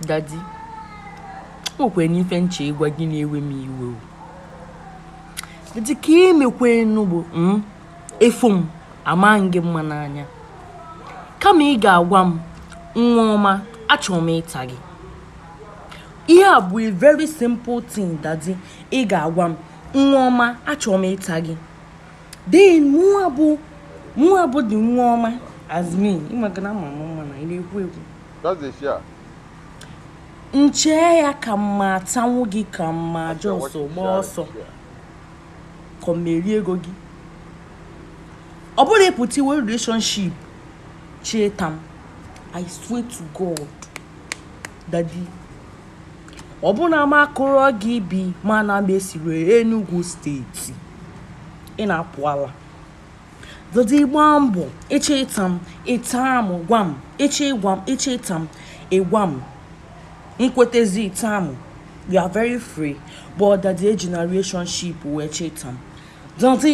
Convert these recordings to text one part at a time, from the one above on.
dadi o kwere n'ife nche ịgwa gị na-ewe m iwe o dadi ka emekwenu bụ ị fụ m ama m gị mma n'anya kama ị ga-agwa m nwa ọma achọrọ m ịta gị ihe a bụ a very simple thing dadi ị ga-agwa m nwa ọma achọrọ m ịta gị then mụwa bụ mụwa bụ dị nwa ọma as me ịmago na ama m mma na ị na-ekwu ekwu That's the share. m chee ya ka m ma atanwu gị ka m ma just gba ọsọ ka ọ m erie ego gị ọ bụrụ ị pụta i we relationship chọ ịta m i swear to god dadi ọ bụ na m akụrọ gị ibi ma na m esiri enugwu steeti ị na-apụ ala dadi gba mbọ ịchọ ịta m ịta m gwa m ịchọ ịgwa m ịchọ ịta m ịgwa m m kwetezi ịta m you are very free but dadi ejina relationship wee chọ ịta m dadi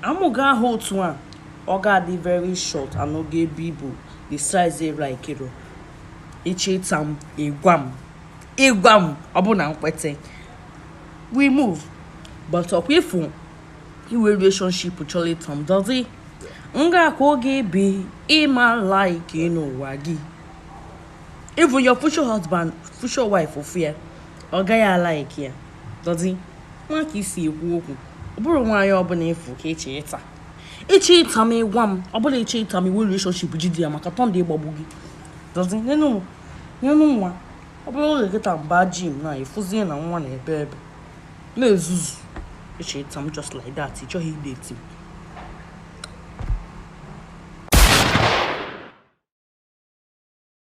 amụ gị ahụ otu a ọ ga-adị very short and ọ ga-ebu ibu the size ị laikiro ịchọ ịta m ịgwa m ịgwa m ọ bụ na m kwete we move but ọkwa ịfụ i we relationship chọrọ ịta m dadi m ga-akụ gị ibi ị ma like n'ụwa gị even your future husband future wife ọ fụ ya ọ gaghị alaiki ya dadi nwa ka i si ekwu okwu ọ bụrụ nwaanyị ọbụla ị fụ ka ị chọ ịta ịchọ ịta m ịgwa m ọ bụ na ịchọ ịta m i we relationship jide ya maka thunder ịgbagbu gị dadi nyenụ nwa ọ bụrụ oge kịta m ba gym na ị fụzie na nwa na-ebe ebe na-ezuzu ị chọ ịta m just like that ị chọghị ịdate m